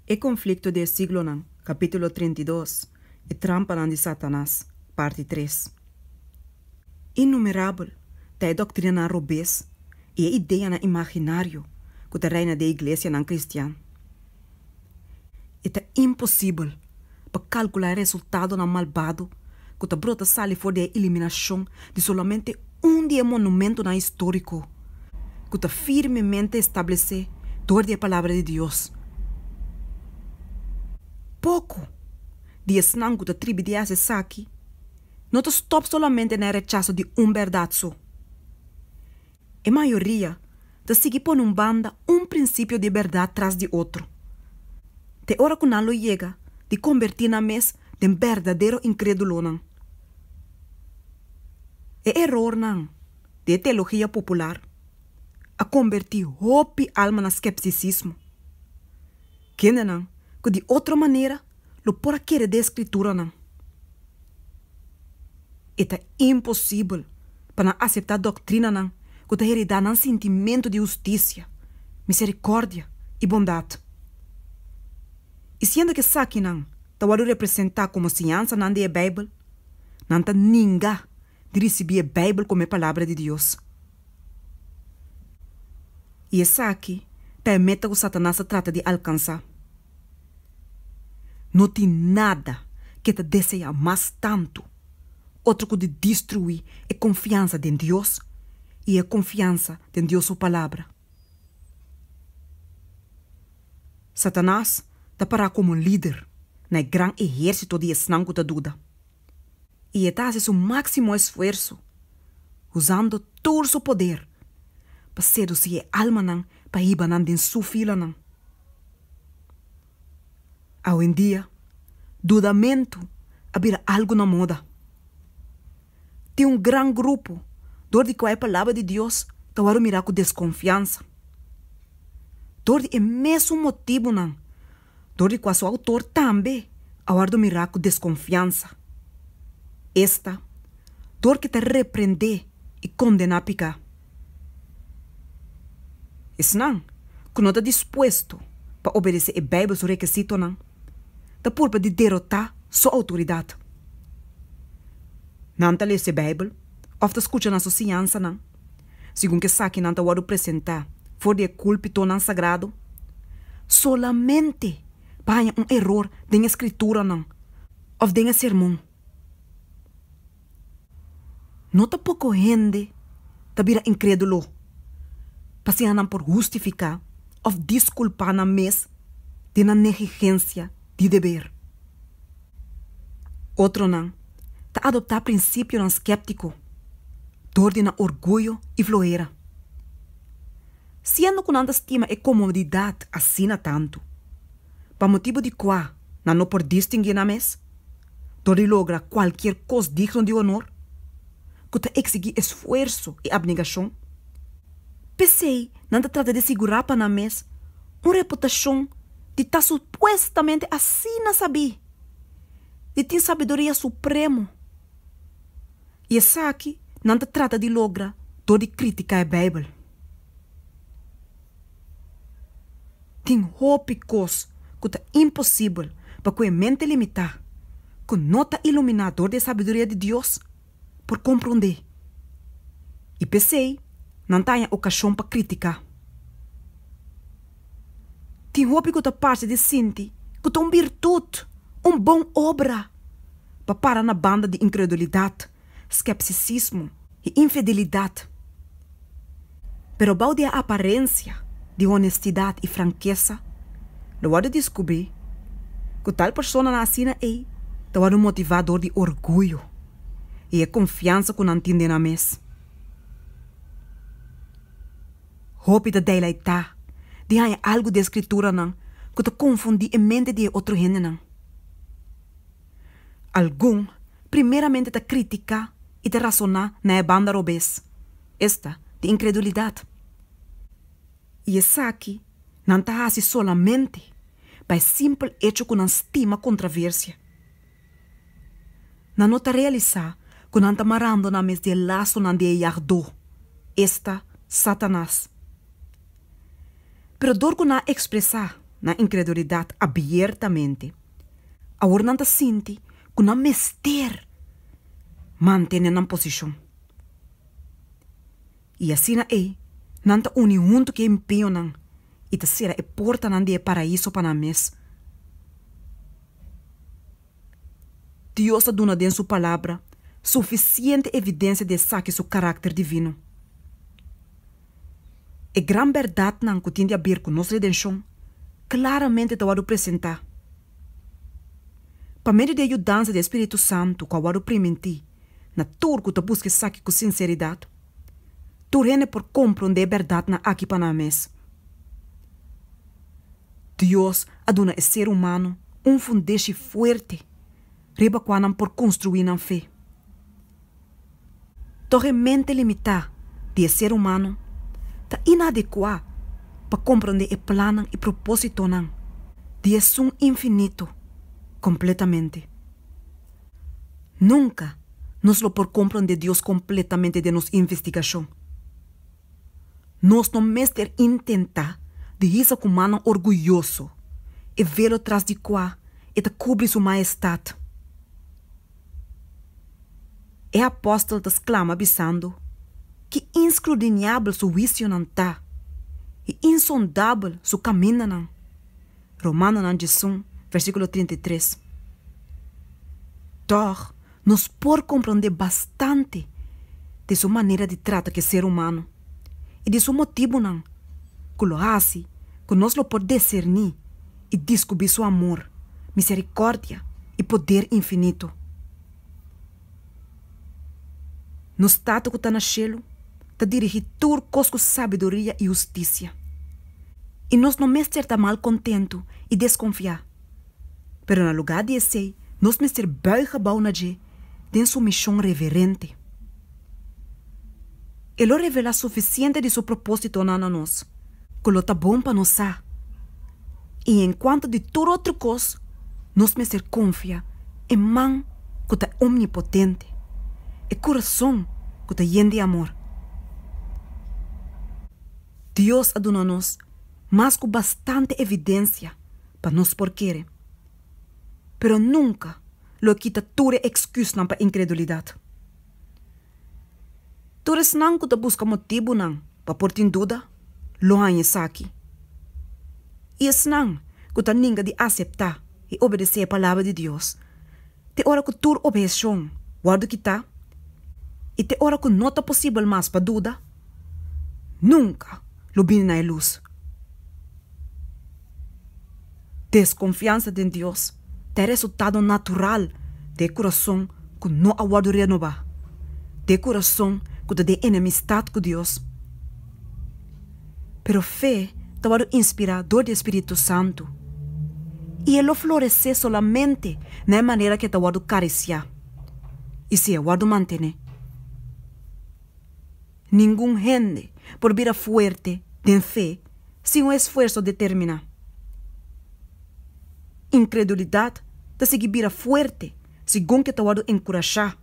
E konflikto di e siglonan, kapítulo trinta i dos, E trampanan di Satanas, parti tres. Innumerabel ta e doktrinanan robes i e ideanan imaginario ku ta reina den e iglesianan kristian. E ta imposibel pa calcula e resultadonan malbado cu ta brota sali for di e eliminacion di solamente un di e monumentonan historico cu ta firmemente establece dor di e Palabra di Dios. Poco di esnan cu ta tribi di haci esaki no ta stop solamente na e rechaso di un berdad so. E mayoria ta sigui pone un banda un prinsipio di bèrdat tras di otro, te ora ku nan lo yega di kombertí nan mes den berdadero inkrédulonan. E erornan di e teologia popular a kombertí hopi alma na skepsisismo. Kendenan ku di otro manera lo por a kere den e Skrituranan, e ta imposibel pa nan aseptá doktrinanan ku ta heredá nan sintimentu di hustisia, miserikòrdia i bondat. I siendo ku esakinan ta wòrdu representá komo enseñansanan di e Beibel, nan ta ninga di risibí e Beibel komo e Palabra di Dios. I esaki ta e meta ku Satanas ta trata di alkansá. No tin nada ku e ta deseá mas tantu otro ku di destruí e konfiansa den Dios i e konfiansa den Dios su Palabra. Satanas ta pará komo un lider na e gran ehérsito di esnan ku ta duda. i e ta hasi su máksimo esfuerso, usando tur su poder, pa sedusí e almanan pa hiba nan den su filanan. Awendia, dudamentu a bira algu na moda. Tin un gran grupo dor di kua e Palabra di Dios ta wòrdu mirá ku deskonfiansa. Dor di e mesun motibunan dor di kua su autor tambe a wòrdu mirá ku deskonfiansa. Esta dor ke ta reprendé i kondená piká esnan ku no ta dispuesto pa obedesé e Beibel su rekesitonan ta purba di derotá su outoridat. Nan ta lesa e Beibel òf ta skucha na su siñansanan. segun ku esakinan ta wòrdu presentá for di e kulpitornan sagrado, solamente pa haña un eror den e skrituranan òf den e sermon. No ta poko hende ta bira inkrédulo pasobra nan por hustifiká òf diskulpá nan mes di nan negligensia di deber. Otronan ta adoptá prinsipionan sképtiko dor di nan orguyo i floera. Siendo ku nan ta stima e komodidat asina tantu, pa motibu di kua nan no por distinguí nan mes dor di logra kualkier kos digno di honor ku ta eksigí esfuerso i abnegashon. P'esei nan ta trata di sigurá pa nan mes un reputashon di ta supuestamente asina sabí, di tin sabiduria supremo, i esaki nan ta trata di logra dor di krítika e Beibel. Tin hopi kos ku ta imposibel pa ku e mente limitá, ku no ta iluminá dor di e sabiduria di Dios, por komprondé i p'esei nan ta haña okashon pa kritiká. Tin hopi ku ta parse di sinti ku ta un birtut, un bon obra, pa para na banda di inkredulidat, skepsisismo i infidelidat. Pero bou di e aparensia di honestidat i frankesa, lo wòrdu diskubrí ku tal personanan asina ei ta wòrdu motivá dor di orguyo i e konfiansa ku nan tin den nan mes. Hopi ta deilaitá di haña algu den Skrituranan ku ta konfundí e mente di e otro hendenan. Algun primeramente ta kritika i ta rasoná na e banda robes, esta di inkredulidat. I esaki nan ta hasi solamente pa e simpel echo ku nan stima kontraversia. Nan no ta realisá ku nan ta marando nan mes di e lasonan di e yagdó, esta Satanas. Pero dor ku nan ekspresá nan inkredulidat abiertamente, Awor nan ta sinti ku nan mester mantene nan posishon. I asina ei nan ta uni huntu ku e empeñonan i ta sera e portanan di e Paraíso pa nan mes. Dios a duna den su Palabra sufisiente evidensia di esaki su karakter divino. E gran bèrdatnan ku tin di aber ku nos redenshon klaramente ta wòrdu presentá. Pa medio di e yudansa di e spiritu santu ku a wòrdu primintí na tur ku ta buska esaki ku sinseridat, tur hende por komprondé e bèrdatnan aki pa nan mes. Dios a duna e ser humano un fundeshi fuerte riba kua nan por konstruí nan fe. Toch e mente limitá di e ser humano ta inadecuá pa comprende e plannan i propósitonan di Esun Infinito completamente. Nunca nos lo por comprende Dios completamente den nos investigacion. Nos no mester intentá di hisa cu mannan orguyoso e velo tras di cua E ta cubri Su Maestad. E apòstel ta sklama bisando, Ki inskrudiniabel su huisionan ta, i insondabel su kamindanan! Romanonan djizun, versíkulo trinta i tres. Tòg, nos por komprondé bastante di su manera di trata ku e ser humano i di su motibunan ku lo hasi ku nos lo por deserní. i diskubí Su amor, miserikòrdia i poder infinitu. Nos Tata ku ta na shelu ta dirigí tur kos ku sabiduria i hustisia, i nos no mester ta mal kontentu i deskonfiá, pero na lugá di esei nos mester bùig gebou na dje den sumishon reverente. E lo revelá sufisiente di su propósitonan na nos. ku lo ta bon pa nos sa. I en kuantu di tur otro kos, nos mester konfia e Man ku ta omnipotente, e kurason ku ta yen di amor. Dios a duna nos mas ku bastante evidensia pa nos por kere, pero nunka lo a kita tur e eksküsnan pa inkredulidat. Tur esnan ku ta buska motibunan pa por tin duda lo haña esaki. I esnan ku ta ninga di aseptá i obedesé e Palabra di Dios te ora ku tur obheshon wòrdu kitá i te ora ku no ta posibel mas pa duda nunka lo bini na e lus. Desconfiansa den Dios ta e resultado natural di e curason cu no a wordo renoba, di e curason cu ta den enemistad cu Dios. Pero fe ta wordo inspira door di e Spiritu Santu y e lo florece solamente na e manera cu e ta wordo caricia y si e wordo mantene. Ningun hende por bira fuerte den fe sin un esfuerso determiná. Inkredulidat ta sigui bira fuerte segun ke ta wòrdu enkurashá.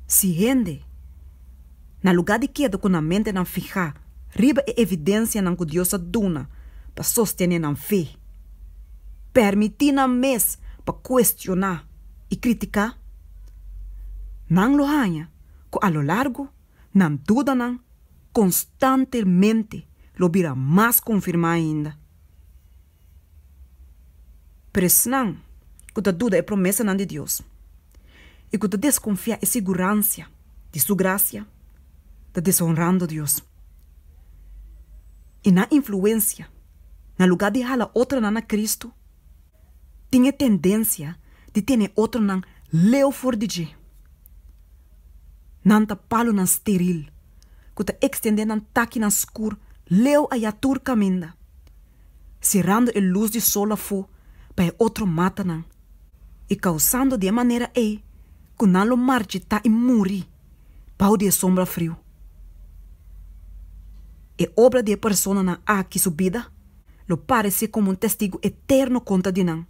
Si hende, na lugá di keda ku nan mentenan fihá riba e evidensianan ku Dios a duna pa sostené nan fe, pèrmití nan mes pa kuestioná i kritiká, nan lo haña ku a lo largu nan dudanan konstantemente lo bira mas konfirmá ainda. Pero esnan ku ta duda e promesanan di Dios i ku ta deskonfiá e siguransia di su grasia ta deshonrando Dios, i nan influensia na lugá di hala otronan na Kristu, tin e tendencia di tene otronan leu for di dje. Nan ta palunan steril cu ta extende nan takinan scur leu ayá tur caminda, cerando e luz di sol afo pa e otro matanan y causando di e manera ey cu nan lo marchitá y muri. bou di e sombra friu. E obra di e personanan aki su bida lo paresé komo un testigu eterno kontra di nan.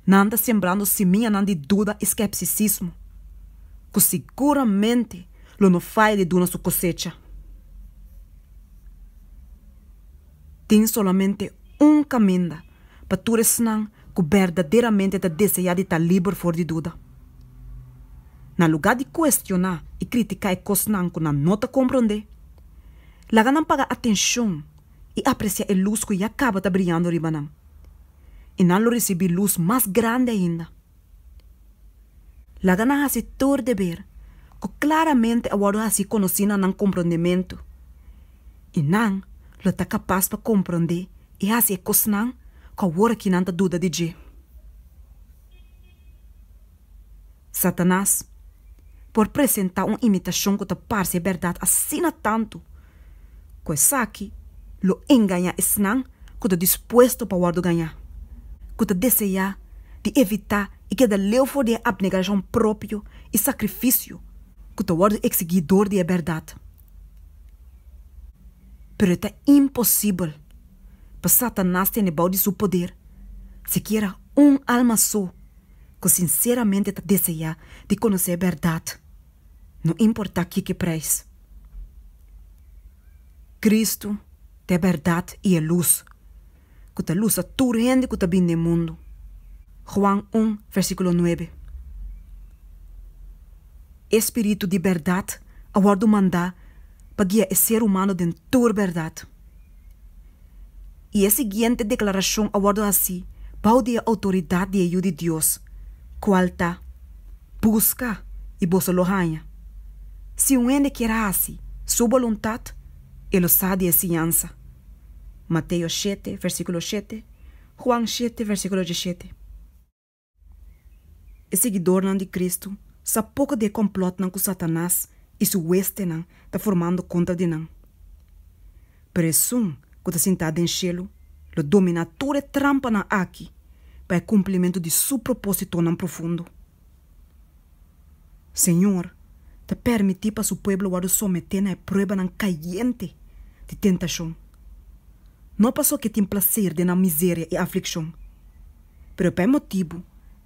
Nan ta sembrando simiñanan di duda i skepsisismo, ku siguramente lo no faya di duna su kosecha. Tin solamente un kaminda pa tur esnan ku berdaderamente ta deseá di ta liber for di duda. Na lugá di kuestioná i kritiká e kosnan ku nan no ta komprondé, laga nan paga atenshon i apresiá e lus ku ya kaba ta briando riba nan. I nan lo risibí lus mas grandi ainda. Laga nan hasi tur deber ku klaramente a wòrdu hasi konosí na nan komprondementu, i nan lo ta kapas pa komprondé i hasi e kosnan ku awor aki nan ta duda di dje. Satanas por presentá un imitashon ku ta parse bèrdat asina tantu, Ku esaki lo engañá esnan ku ta dispuesto pa wòrdu gañá, ku ta deseá di evitá i keda leu for di e abnegashon propio i sakrifisio ku ta wòrdu eksigí dor di e bèrdat. Pero e ta imposibel pa Satanas tene bou di su poder sikiera un alma so ku sinseramente ta deseá di konosé e bèrdat. no importa kiki prijs. Kristu ta e bèrdat i e lus ku ta lusa tur hende ku ta bini den mundu, Juan un vèrsikulo nuebe. E Spiritu di bèrdat a wòrdu mandá pa guia e ser humano den tur bèrdat. i e siguiente deklarashon a wòrdu hasí bou di e outoridat di e Yu di Dios, kual ta, Buska, i boso lo haña. Si un hende kier hasi Su boluntat, e lo sa di e siñansa. Mateo shete, vèrsikulo shete, Juan shete, vèrsikulo dishete. E siguidornan di Kristu sa poko di e komplòtnan ku Satanas i su westenan ta formando kontra di nan. Pero Esun ku ta sintá den shelu lo dominá tur e trampanan akí pa e kumplimentu di Su propósitonan profundo. Señor ta permití pa su pueblo wòrdu someté na e pruebanan kayente di tentashon, no pasobra ke tin plaser den nan miseria i aflikshon, pero pa e motibu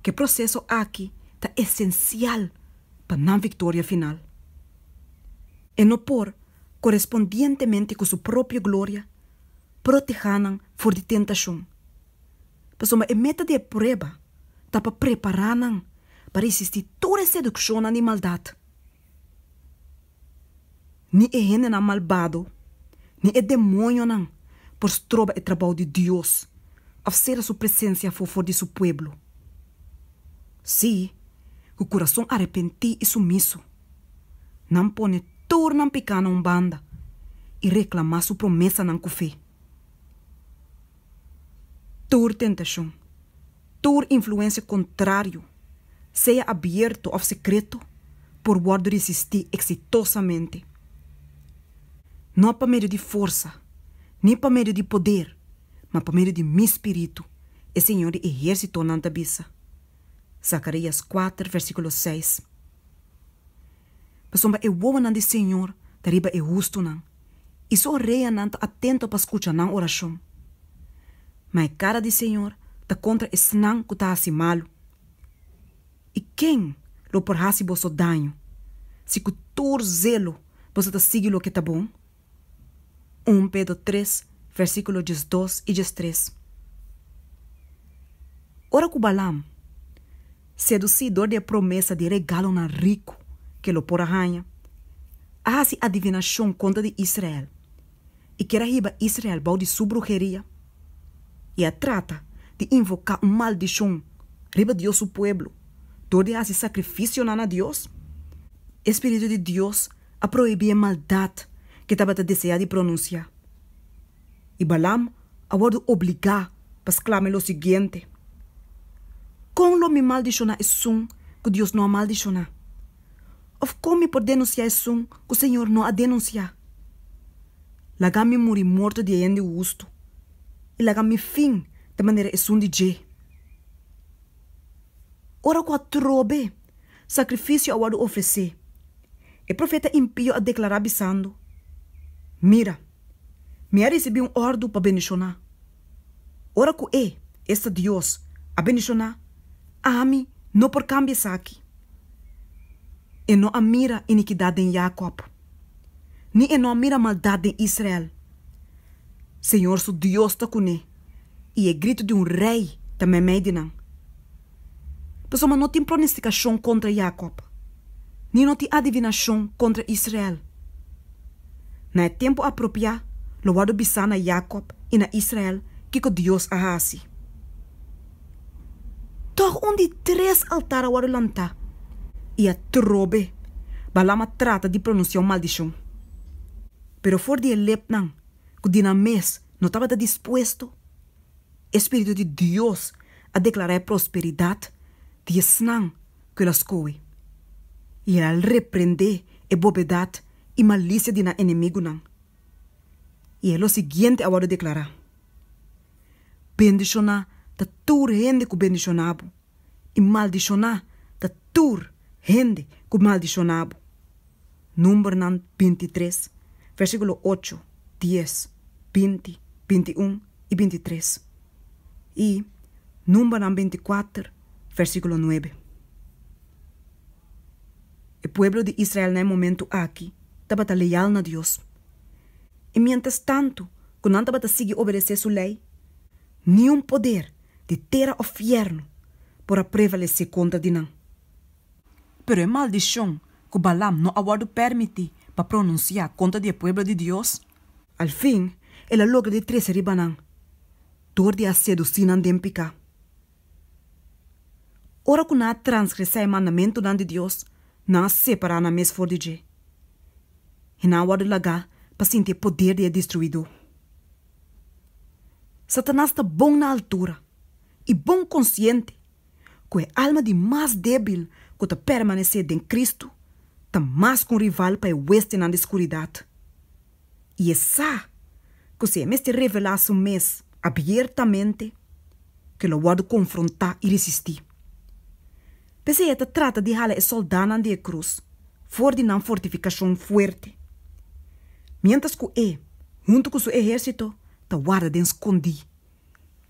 ku e proseso aki ta esensial pa nan viktoria final. E no por, korespondientemente ku su propio gloria, protehá nan for di tentashon. pasobra e meta di e prueba ta pa prepará nan pa resistí tur e sedukshonnan di maldat. Ni e hendenan malbado ni e demonionan por stroba e trabou di Dios òf sera su presensia afofó di su pueblo. Sí, ku kurason arepentí i sumiso, nan pone tur nan pekánan un banda i reklamá su promesanan ku fe. tur tentashon, tur influensia kontrario, sea abierto òf sekreto, por wòrdu resistí eksitosamente. No pa medio di forsa, ni pa medio di poder, ma pa medio di mi Spiritu, e Señor di ehérsitonan ta bisa. Zacarías kuater, versíkulo seis. Pasobra e wowonan di Señor ta riba e hustunan, i su oreanan ta atento pa skucha nan orashon. Ma e kara di Señor ta kontra esnan ku ta hasi malu. I ken lo por hasi boso daño, si ku tur zelo boso ta sigui loke ta bon? Un Pedro tres, versíkulo diesdos i diestres. Ora ku Balaam. Sedusí dor di e promesa di regalonan riku ku e lo por a haña, a hasi adivinashon kontra di Israel i kier a hiba Israel bou di su bruheria i a trata di invoká un maldishon riba Dios su pueblo dor di hasi sakrifisionan na Dios. E spiritu di Dios a prohibí e maldat ku e tabata deseá di pronunsiá. i Balaam a wòrdu obligá pa sklama e lo siguiente, Kon lo mi maldishoná esun ku Dios no a maldishoná? Òf kon mi por denunsiá esun ku Señor no a denunsiá? Laga mi muri morto di e hende hustu, i laga mi fin ta manera esun di dje. Ora ku atrobe sakrifisio a wòrdu ofresé, e profeta impío a deklará bisando, Mira! Mi a risibí un òrdu pa bendishoná. Ora ku E, esta Dios, a bendishoná, ami no por kambia esaki. E no a mira inikidat den Jakòb, ni e no a mira maldat den Israel. Señor su Dios ta kuné, i e gritu di un rei ta mèmèi di nan. Pasobra no tin pronestikashon kontra Yakòb, ni no tin adivinashon kontra Israel. Na e tempu apropiá lo wòrdu bisá na Yakòb i na Israel kiko Dios a hasi. Tòg un di tres altar a wòrdu lantá i atrobe Balam a trata di pronunsiá un maldishon. Pero for di e lepnan ku di nan mes no tabata dispuesto, e spiritu di Dios a deklará e prosperidat di esnan ku el a skohe, i el a reprendé e bobedat i malisia di nan enemigunan. I e lo siguiente a wòrdu deklará, Bendishoná ta tur hende ku bendishoná bo. i maldishoná ta tur hende ku maldishoná bo. Numbernan binti i tres, versíkulo ocho, dies, binti, binti i un i binti i tres, i Numbernan binti i kuater, versíkulo nuebe. E pueblo di Israel na e momentu aki tabata leal na Dios, i miéntras tantu ku nan tabata sigui obedesé su Lei, niun poder di tera of fièrnu por a prevalesé kontra di nan. Pero e maldishon ku Balam no a wòrdu pèrmití pa pronunsiá kontra di e pueblo di Dios. Alfin, el a logra di trese riba nan dor di a sedusí nan den piká. Ora ku nan a transgresá e mandamentunan di Dios, nan a separá nan mes for di dje i nan a wòrdu lagá pa sinti e poder di e Destruidó. Satanas ta bon na altura i bon konsiente ku e alma di mas débil ku ta permanesé den Kristu ta mas ku un rival pa e westenan di skuridat. I e sa ku si e mester revelá su mes abiertamente, ke lo wòrdu konfrontá i risistí. P'esei e ta trata di hala e sòldánan di e krus for di nan fortifikashon fuerte, miéntras ku e, huntu ku su ehérsito, ta warda den skondí,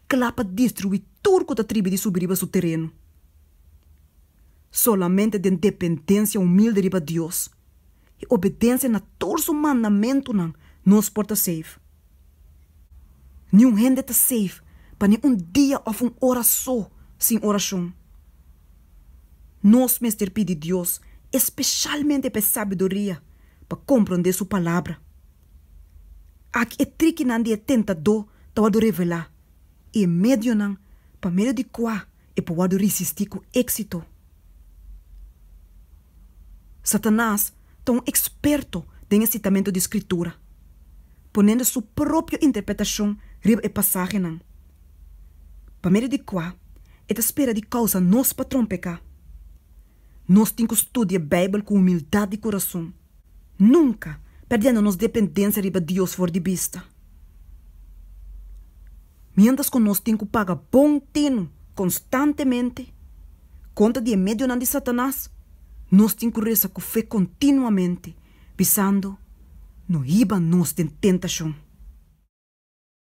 kla pa destruí tur ku ta tribi di subi riba su tereno. Solamente den dependensia humilde riba Dios, i obedencia na tur su mandamentunan nos por ta save. Niun hende ta save pa ni un dia of un ora so sin oracion. Nos mester pidi Dios, especialmente pa e sabiduria pa compronde su Palabra. Aki e trikinan di e tentador tabatin revela i e medionan pa medio di cua e por wòrdu risistí ku éksito. Satanas ta un eksperto den e sitamentu di Skritura, ponendo su propio interpretashon riba e pasahenan, pa medio di kua e ta spera di kousa nos patron peká. Nos tin ku studia e Beibel ku humildat di kurason, nunka perdiendo nos dependensia riba Dios for di bista. Miéntras ku nos tin ku paga bon tinu konstantemente kontra di e medionan di Satanas, nos tin ku resa ku fe kontinuamente, bisando, No hiba nos den tentashon.